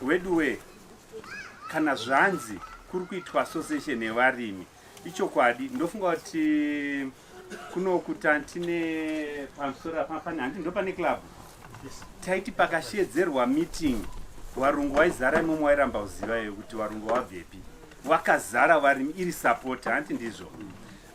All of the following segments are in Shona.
Weduwee, kana zvanzi kuri kuitwa association yevarimi ichokwadi ndofunga kuti kunokuta tine pamusoro apapane handi ndo pane club taiti pakashedzerwa meeting varungu waizara imomo wairamba uziva iwe kuti varungu wabvepi wakazara varimi iri support hanti ndizvo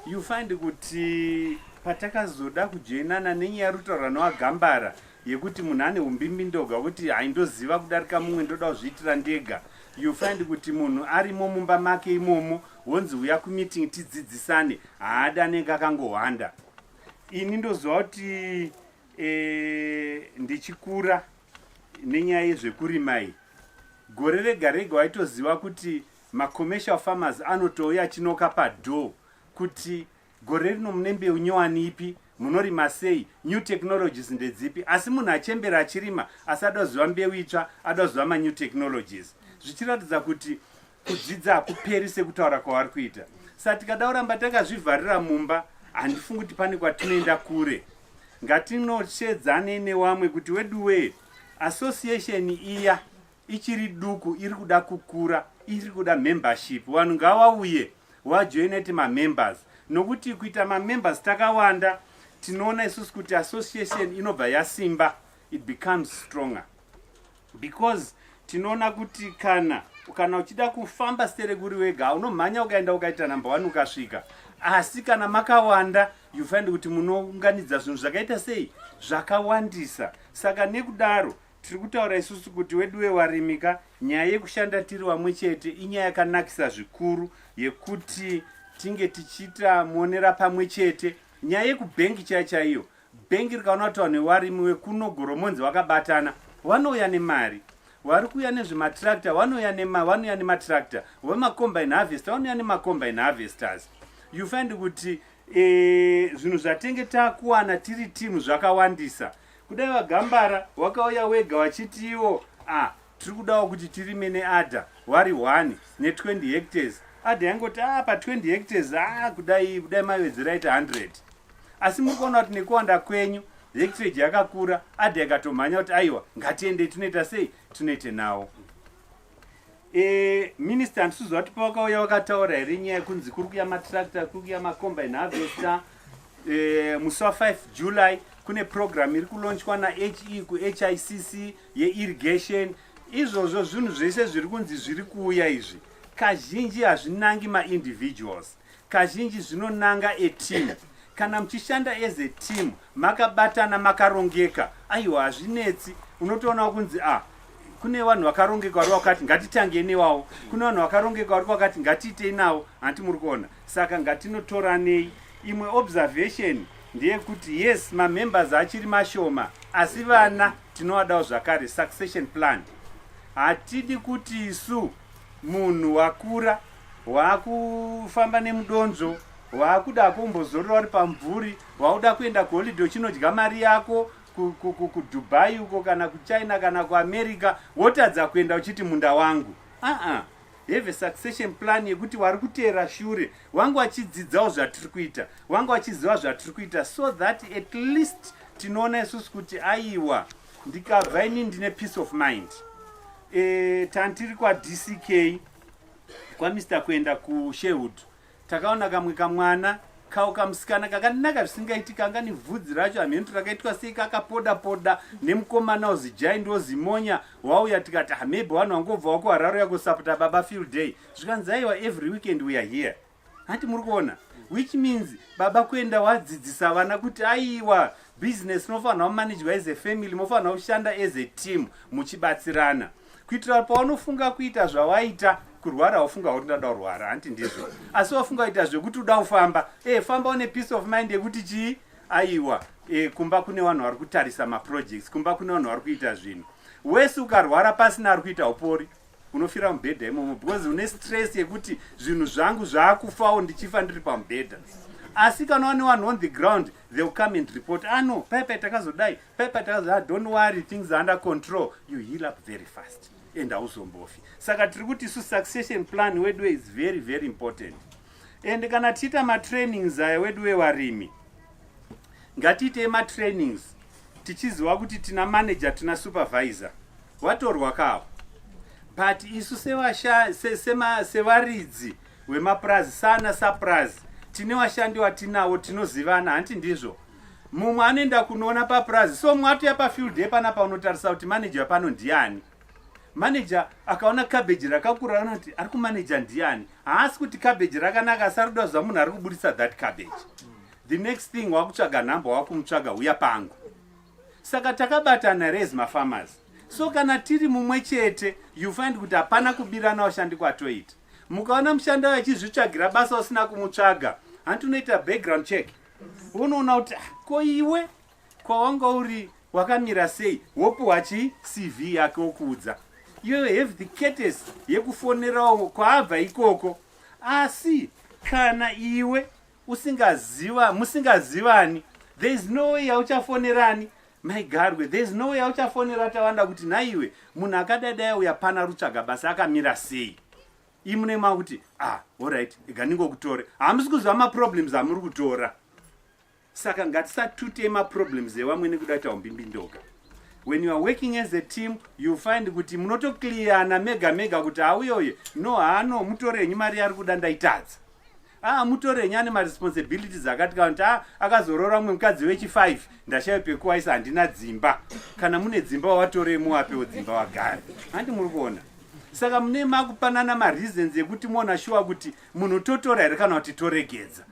you find kuti patakazoda kujoinana nenyaya ruto ranoagambara yekuti munhu ane umbimbidoga kuti haindoziva kudarika mumwe ndoda kuzviitira ndega you find kuti munhu arimo mumba make imomo wonzi uya kumeeting tidzidzisane haada anenge akangohwanda ini ndoziva kuti e, ndichikura nenyaya yezvekurima iyi gore rega rega waitoziva kuti macommercial farmers anotouya chinoka padoor kuti gore rino mune mbeu nyowani ipi munorima sei new technologies ndedzipi asi munhu achembera achirima asi ada kuziva mbeu itsva ada kuziva manew technologies zvichiratidza kuti kudzidza hakuperi sekutaura kwavari kuita sa tikada kuramba takazvivharira mumba handifungi kuti pane kwatinoenda kure ngatinoshedzane newamwe kuti weduwee association iya ichiri duku iri kuda kukura iri kuda membership vanhu ngavauye wajoineti mamembers nokuti kuita mamembers takawanda tinoona isusu kuti association inobva yasimba it becomes stronger because tinoona kuti kana kana uchida kufamba stere kuri wega unomhanya ukaenda ukaita number one ukasvika asi kana makawanda you find kuti munounganidza zvinhu zvakaita sei zvakawandisa saka nekudaro Tiri kutaura isusu kuti weduwe varimi ka nyaya yekushanda tiri vamwe chete inyaya yakanakisa zvikuru yekuti tinge tichiita muonera pamwe chete nyaya yekubhengi chaya chaiyo bhengi rikaona kuti vanhu vevarimi wekuno goromonzi vakabatana vanouya nemari vari kuuya nezvematractor vanouya nema vanouya nematractor vemacombine harvester vanouya nemacombine harvesters you find kuti eh, zvinhu e, zvatenge takuwana tiri timu zvakawandisa kudai vagambara wakauya wega wachitiwo ah tiri kudawo kuti tirime neada wari one ne20 hectares ada yangoti a ah, pa20 hectares a ah, kudai kudai mavedzera ita 100 asi muri kuona kuti nekuwanda kwenyu hectage yakakura ada yakatomhanya kuti aiwa ngatiendei tunoita sei tunoite nawo Eh, minister handisizo vati pavakauya vakataura here nyaya yekunzi kuri kuya matractor kuri kuya macombine harvester eh, musi wa 5 july kune program iri kulonchwa nahe kuhicc yeirrigation izvozvo zvinhu zvese zviri kunzi zviri kuuya izvi kazhinji hazvinangi maindividuals Kazhinji zvinonanga a team. Kana muchishanda as a team makabatana makarongeka aiwa hazvinetsi unotoonawo kunzi a ah, kune vanhu vakarongeka vari vakati ngatitangei newawo kune vanhu vakarongeka vari vakati ngatiitei nawo hanti muri kuona saka ngatinotoranei imwe observation ndeyekuti yes mamembers achiri mashoma asi vana tinovadawo zvakare succession plan hatidi kuti isu Munhu wakura wakufamba nemudonzvo wakuda kumbozorora uri pamvuri wakuda kuenda kuholide uchinodya mari yako kudubai uko kana kuchina kana kuamerica wotadza kuenda uchiti munda wangu aa have succession plan yekuti wari kuteera shure wange wachidzidzawo zvatiri kuita wange wachiziva zvatiri kuita so that at least tinoona isusu kuti aiwa ndikabva ini ndine peace of mind E, tantiri kwaDCK kwaMr kuenda kuSherwood takaona kamwe kamwana kawo kamusikana kakanaka zvisingaiti kanga nevhudzi racho hamheni kuti rakaitwa sei kakapoda poda nemukomana wozijai ndozimonya wauya tikati hamebe ah, vanhu vangobva wakuhararo yakosapota baba field day zvikanzi aiwa every weekend weare here hanti muri kuona which means baba kuenda wadzidzisa vana kuti aiwa business mofanirwa kumanejwa as a family mofanirwa kushanda as a team muchibatsirana kuitira paunofunga kuita zvawaita kurwara ufunga kuti ndada kurwara hanti ndizvo asi wafunga kuita zvekuti uda kufamba e famba une peace of mind yekuti chii aiwa e, kumba kune vanhu vari kutarisa maprojects kumba kune vanhu vari kuita zvinhu wese ukarwara pasina ari kuita upori unofira pamubhedha imomo because une stress yekuti zvinhu zvangu zvaakufawo ndichifa ndiri pamubhedha asi kana wane one on the ground they will come and report ano ah, pepe takazodai pepe takazodai ah, don't worry things under control you heal up very fast and hauzombofi saka tiri kuti isu succession plan weduwe is very very important and kana tiita matrainings aya weduwe varimi Ngatiitei matrainings tichiziva kuti tina manager tina supervisor watorwa kawo but isu sevaridzi vemapurazi sana sapurazi tine vashandi vatinawo tinozivana hanti ndizvo mumwe anoenda kunoona papurazi so mumwe atoya pafield day pana paunotarisa kuti manager pano ndiani Manager akaona cabbage rakakura anoti ari kumanager ndiani haasi kuti cabbage rakanaka asi arikuda kuziva munhu ari kuburitsa that cabbage the next thing wakutsvaga nhamba wakumutsvaga huya pangu saka takabatana res mafarmers so kana tiri mumwe chete you find kuti hapana kubirana washandi kwatoita mukaona mushandi wayo achizvitsvagira basa usina kumutsvaga hanti unoita background check unoona kuti ah, ko iwe kwawanga uri wakamira sei wopiwa chi cv yake wokuudza you have the cates yekufonerawo kwaabva ikoko asi kana iwe usingaziva musingazivani there is no way yauchafonerani maigarwe there is no way yauchafonera tawanda kuti nhaiwe munhu akadadai uya pana rutsvaga basa akamira sei imune makuti ah orit iganingokutore hamusi kuziva maproblems amuri kutora saka ngatisatute maproblems evamwe nekuda kuti aumbimbindoga when you are working as a team you find kuti munotoclearana mega mega kuti hauyoye no hano mutorenyi mari yaari kuda ndaitadza aa ah, mutorenyi ane maresponsibilities akati kana kuti a ah, akazoroora mumwe mukadzi wechi5 ndashayo pekuwaisa handina dzimba kana mune dzimba watorei muwapewo dzimba wagari handi muri kuona saka mune makupanana mareasons ekuti muona shuwa kuti munhu totora here kana kuti toregedza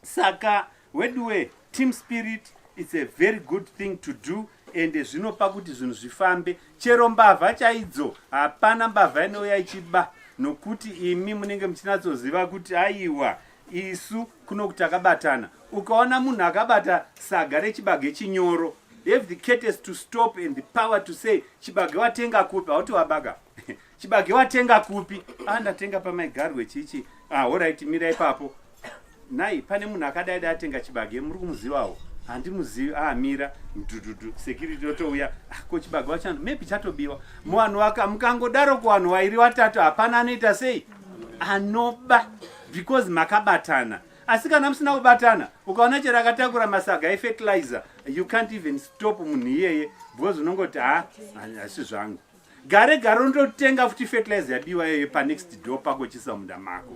saka weduwe team spirit it's a very good thing to do ende zvinopa kuti zvinhu zvifambe chero mbavha chaidzo hapana mbavha inouya ichiba nokuti imi munenge muchinatsoziva kuti aiwa isu kuno kuti akabatana ukaona munhu akabata saga rechibage chinyoro have the cates to stop and the power to say chibage watenga kupi hauti wabaga chibage watenga kupi ah ndatenga pamaigarwe chichi ah horaiti mira ipapo nai pane munhu akadai dai atenga chibage muri kumuzivawo handimuzivi ah mira mdududu security yotouya ah, ko chibage wachano maybe chatobiwa muvanhu waka mukangodaro kuvanhu wairi watatu hapana anoita sei anoba because makabatana asi kana musina kubatana ukaona chero akatakura masaga efetilizer you can't even stop munhu iyeye because unongoti ha ah, hasi zvangu gare gare unototenga futi fertilizer yabiwa iyoyo panext door pako chisa munda mako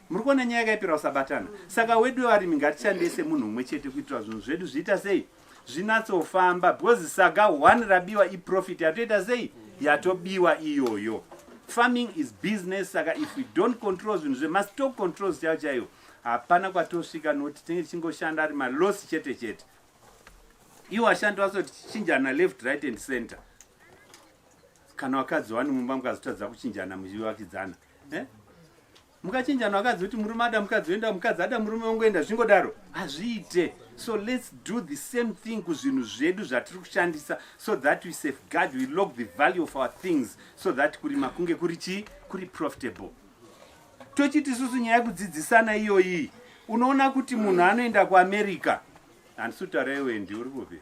muri kuona nyaya yakaipira usabatana saka wedu varimi ngatishandise munhu umwe chete kuitira zvinhu zvedu zviita sei zvinatsofamba because saga one rabiwa iprofit yatoita sei yatobiwa iyoyo farming is business saka if we don't control zvinhu zvemastock controls chaiyo chaiyo hapana kwatosvika nokuti tinenge tichingoshanda ari malosi chete chete iwo ashandi vasochinjana left right and center kana vakadzi wani mumba mukazotadza kuchinjana muchivakidzana eh? mukachinjana vakadzi kuti murume ada mukadzi oenda mukadzi ada murume wongoenda zvingodaro hazviite so let's do the same thing kuzvinhu zvedu zvatiri kushandisa so that we safeguard we log the value of our things so that kurima kunge kuri chii kuri profitable tochiti isusu nyaya yekudzidzisana iyoyi unoona kuti munhu anoenda kuamerica handisi kutaura iwe ndi uri kupi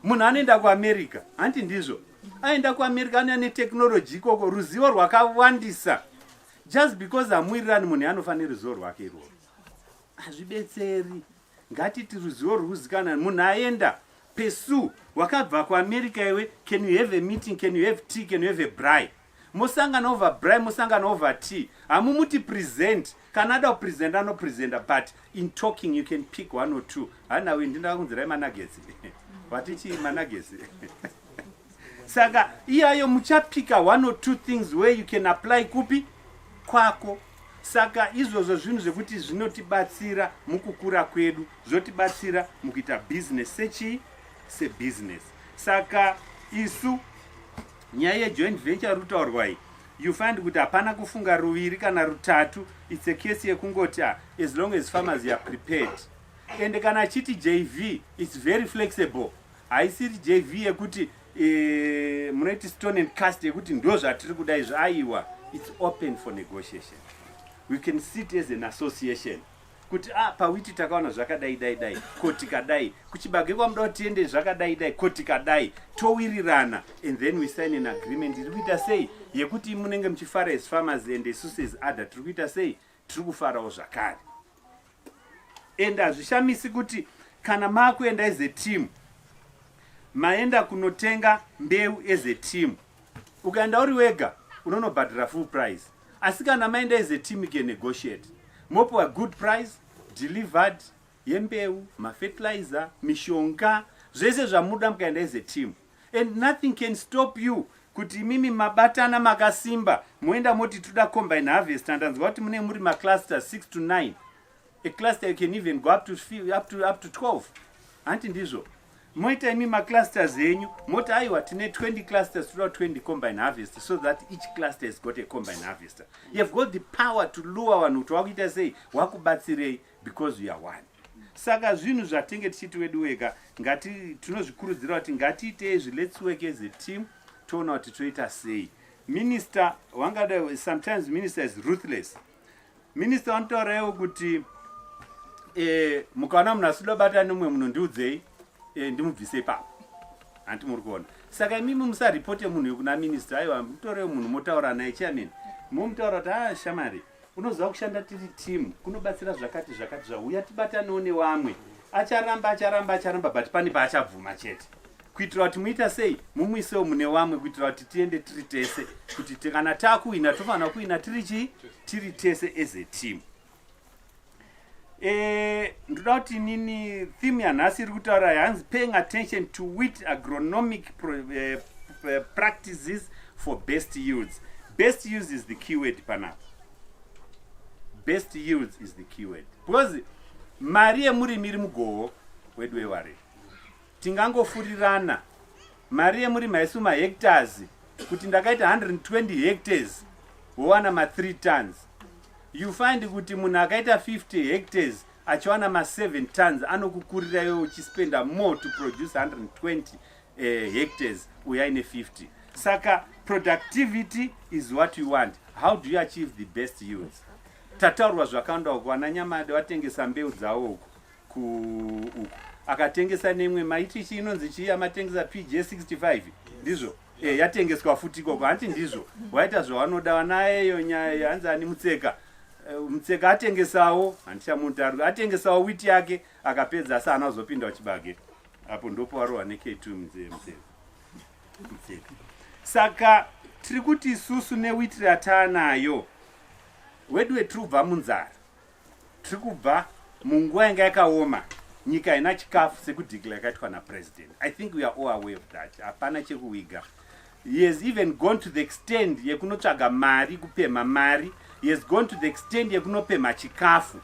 munhu anoenda kuamerica hanti ndizvo aenda kuamerica anoya netechnology ikoko ruzivo rwakawandisa just because amuirirani munhu yanofanira ruzivo rwake irworo hazvibetseri ngatiti ruzivo rwuzikanani munhu aenda pesu wakabva kuamerica iwe can you have a meeting can you have tea can you have a bry mosangana over bry mosangana over tea hamumuti present kana ada kupresenta anopresenta but in talking you can pick one or two hanawe ndindakunzirai managesi vatichii managesi saka iyayo muchapika one or two things where you can apply kupi kwako Saka izvozvo zvinhu zvekuti zvinotibatsira mukukura kwedu, zvotibatsira mukuita business sechii? Sebusiness. Saka isu nyaya yejoint venture rutaurwa iyi you find kuti hapana kufunga ruviri kana rutatu its a case yekungoti ah, as long as farmers are prepared ende kana achiti jv its very flexible haisiri jv yekuti Eh, munoiti stone and cast yekuti ndo zvatiri kuda izvo aiwa its open for negotiation we can sit as an association kuti ah, pawiti takaona zvakadai dai dai ko tikadai kuchibage kwamuda kuti tiende zvakadai dai ko tikadai towirirana and then we sign an agreement iri kuita sei yekuti munenge muchifara as farmers and isusu as other tiri kuita sei tiri kufarawo zvakare and hazvishamisi kuti kana maakuenda as a team maenda kunotenga mbeu as a team ukaenda uri wega unonobhadhira full price asi kana maenda as a team ke negotiate mopiwa good price delivered yembeu mafertilizer mishonga zvese zvamuda mukaenda as a team and nothing can stop you kuti imimi mabatana makasimba moenda moti toda combine harvest andanzwa kuti mune muri macluster 6 to 9 a cluster you can even go up to, up to, up to 12 hanti ndizvo moita imi maclusters enyu moti aiwa tine 20 clusters toda 20 combine harvest so that each cluster has got a combine harvester you have got the power to lure vanhu kuti wakuita sei wakubatsirei because we are one saka zvinhu zvatenge tichiti wedu weka ngati tinozvikurudzira kuti ngatiite izvi let's work as a team toona kuti toita sei minister wangada sometimes minister is ruthless minister vanotauraiwo kuti eh, mukaona munhu asida bata nomwe munhu ndiudzei eh, ndimubvise ipapo hanti muri kuona saka imimi musaripote munhu yekuna minister aiwa mutorewo munhu motaura naye chairman momutaura kuti a ah, shamari ah, unoziva kushanda tiri team kunobatsira zvakati zvakati zvauya tibatanewo newamwe acharamba acharamba acharamba but pane paachabvuma chete kuitira kuti muita sei mumuisewo mune wamwe kuitira kuti tiende tiri tese kuti kana takuhina tofanira kuhina tiri chii tiri tese as a team Eh, ndoda kuti nini theme yanhasi iri kutaura yanzi paying attention to wit agronomic pro, eh, eh, practices for best yields best yields is the keyword panapa best yields is the keyword because mari yemurimi iri mugoho wedu wewarei Tingangofurirana mari yemurimi haisu mahectares kuti ndakaita 120 hectares wowana ma 3 tons you find kuti munhu akaita 50 hectares achiwana ma 7 tons anokukurira iwe uchispenda more to produce 120 eh, hectares uya ine 50 saka productivity is what you want how do you achieve the best yields tataurwa zvakawanda uko ana nyamade vatengesa mbeu dzawo uko ku uku akatengesa nemwe maiti chii inonzi chii amatengesa pj 65 ndizvo e, yatengeswa futi ikoko hanti ndizvo waita zvawanoda wanayeyo nyaya hanzi ani mutseka e, mutseka atengesawo handichamutarwi atengesawo witi yake akapedza asi ana uzopinda uchibage apo ndopo warohwa nekt mutseka saka tiri kuti isusu newiti rataanayo wedu wetirubva munzara Tiri kubva munguva yanga yakaoma nyika haina chikafu sekudhikila yakaitwa napresident i think we are all aware of that hapana chekuwiga he has even gone to the extend yekunotsvaga mari kupemha mari he has gone to the extend yekunopemha chikafu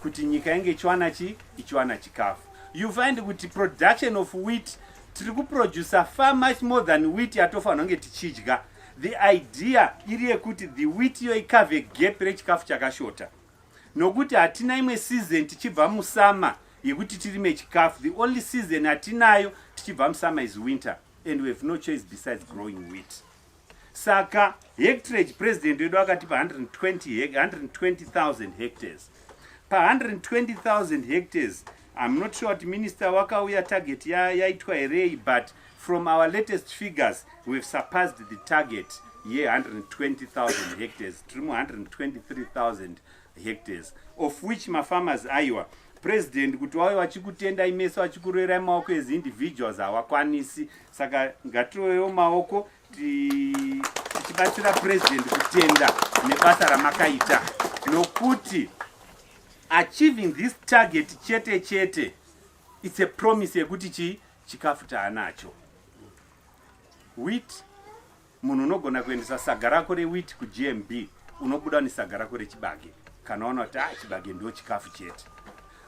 kuti nyika inge ichiwana chi ichiwana chikafu you find kuti production of wheat tiri kuproducer far much more than wheat yatofanira kunge tichidya The idea iri yekuti the wheat iyo ikave gap rechikafu chakashota nokuti hatina imwe season tichibva musama yekuti tirime chikafu the only season hatinayo tichibva musama is winter and we have no choice besides growing wheat saka hectrage president wedu akatipa 120,000 hectares pa 120,000 hectares I'm not sure kuti minister wakauya target yaitwa ya herei but from our latest figures we've surpassed the target ye-120,000 hectares tiri mu-123,000 hectares of which mafarmers aiwa president kuti wave vachikutendai mese vachikuroerai maoko as individuals hawakwanisi saka ngatirovewo maoko tichibatsira president kutenda nebasa ramakaita nokuti achieving this target chete chete it's a promise yekuti chii chikafu taanacho wit munhu unogona kuendesa saga rako rewit kugmb unobuda nesaga rako rechibage kana waona kuti ah chibage ndo chikafu chete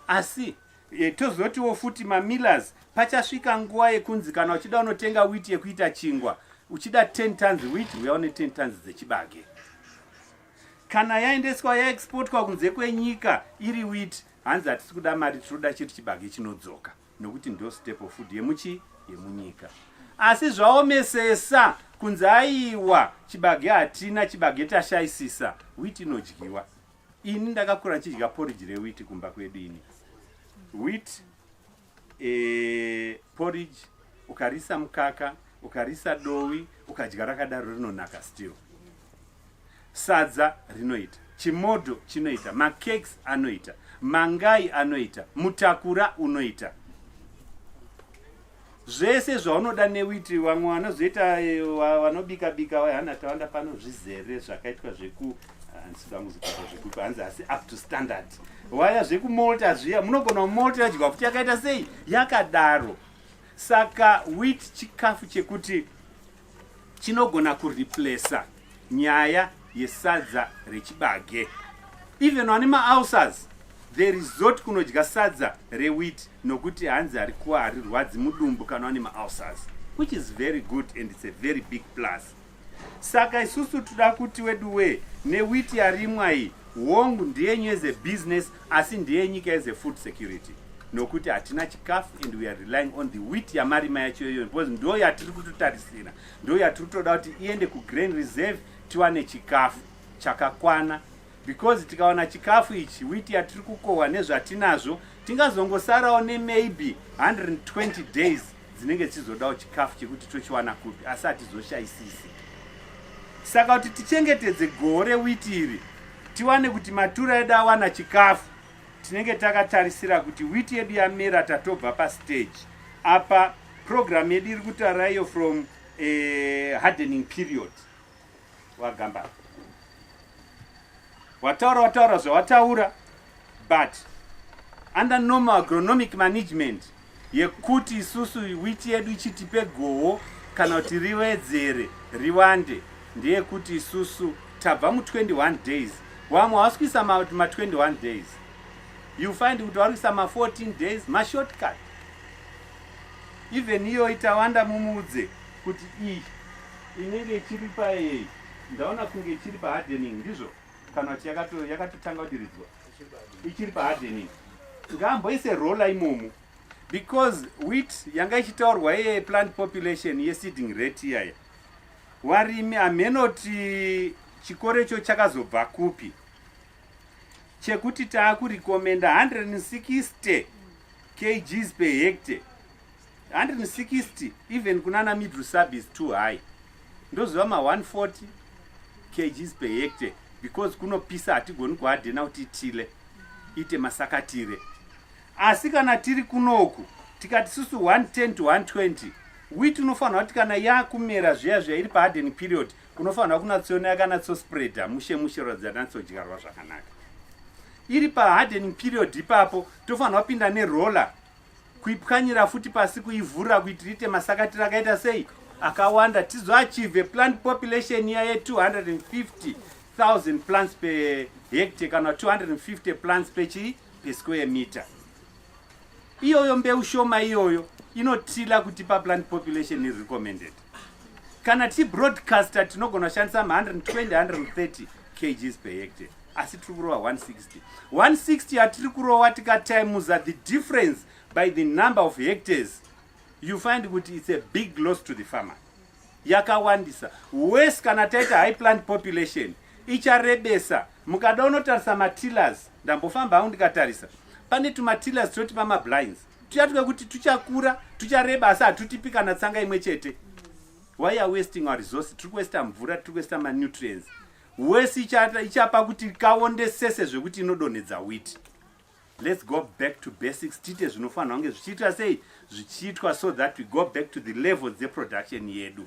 asi E, tozotiwo futi mamillers pachasvika nguva yekunzi kana uchida unotenga wit yekuita chingwa uchida 10 tons wit uya une 10 tons dzechibage kana yaendeswa yaexportwa kunze kwenyika iri wit hanzi hatisi kuda mari tinoda chiri chibage chinodzoka nokuti ndo step of food yemuchi yemunyika asi zvaomesesa kunzi aiwa chibage hatina chibage tashaisisa wit inodyiwa ini ndakakura ndichidya porridge rewheat kumba kwedu ini wheat e, porridge ukarisa mukaka ukarisa dowi ukadya rakadaro rinonaka still sadza rinoita chimodo chinoita macakes anoita mangai anoita mutakura unoita zvese zvaunoda newiti vamwe vanozoita eh, vanobika bika wahana tawanda pano zvizere zvakaitwa zveku handisida kuzopata zvekupa hanzi asi up to standard waya zvekumolta zviya munogona kumolta yadyiwa futi yakaita sei yakadaro saka wit chikafu chekuti chinogona kureplacer nyaya yesadza rechibage even vane maalsers the resort kunodya sadza rewit nokuti hanzi harikuwa harirwadzi mudumbu kana vane maalsers which is very good and its a very big plus saka isusu toda kuti weduwee newiti yarimwa iyi hongu ndiyenyu as a business asi ndiye nyika as a food security nokuti hatina chikafu and we are relying on the wheat yamarima yacho iyoyo because ndo yatiri kutotarisira ndo yatiri kutoda kuti iende kugrain reserve tiwane chikafu chakakwana because tikawana chikafu ichi wheat yatiri kukohwa nezvatinazvo tingazongosarawo nemaybe 120 days dzinenge dzichizodawo chikafu chekuti tochiwana kupi asi hatizoshayisisi saka kuti tichengetedze goho rewiti iri tiwane kuti matura edu awana chikafu tinenge takatarisira kuti witi yedu yamera tatobva pastage apa program yedu iri kutaura iyo from eh, hardening period wagambara wataura wataura zvawataura but under normal agronomic management yekuti isusu witi yedu ichitipe goho kana kuti riwedzere riwande ndeyekuti isusu tabva mu21 days wamwe hawasi kuisa ma21 days you find kuti wari kuisa ma14 days mashortcut even iyoyi tawanda mumuudze kuti iyi Inenge ichiri payeyi? Ndaona kunge ichiri pa hardening ndizvo kana kuti yakato yakatotanga kudiridzwa ichiri pa hardening. Ngaamboise roller imomo because wheat yanga ichitaurwa ye plant population ye seeding rate iyaya. Warimi amenoti chikoro icho chakazobva kupi? Chekuti taakurikomenda 160 kgs per hectare 160 even kunana middle sub is too high ndoziva ma 140 kgs per hectare because kunopisa hatigoni kuhadhena kuti tile ite masakatire asi kana tiri kunoku tikati susu 110 to 120 wit unofanirwa kuti kana yakumera zviya zviya iri paharden period unofanirwa kunatsoona yakanatsospreada mushe mushe ratidza natsodyarwa zvakanaka iri paharden period ipapo tofanirwa pinda neroller kuipwanyira futi pasi kuivhurira kuti riite masakatira akaita sei akawanda tizoachieve plant population iya ye250 000 plants per hectare kana 250 plants pechi per square meter iyoyo mbeu shoma iyoyo inotila kutipa plant population recommended kana tichi broadcaster tinogona kushandisa 120-130 kgs per hectare asi tiri kurova 160 160 yatiri kurova tikatimuza the difference by the number of hectares you find kuti it's a big loss to the farmer yakawandisa wes kana taita high plant population icharebesa mukada unotarisa matillers ndambofamba hangu ndikatarisa pane tumatilas toti pamablinds tuya twekuti tuchakura tuchareba asi hatutipi kana tsanga imwe chete why are wasting our resource tiri kuwesta mvura tiri kuwesta manutrients wese ichapa kuti kaonde sese zvekuti inodonhedza witi let's go back to basics tiite zvinofanirwa kunge zvichiitwa sei zvichiitwa so that we go back to the levels dzeproduction yedu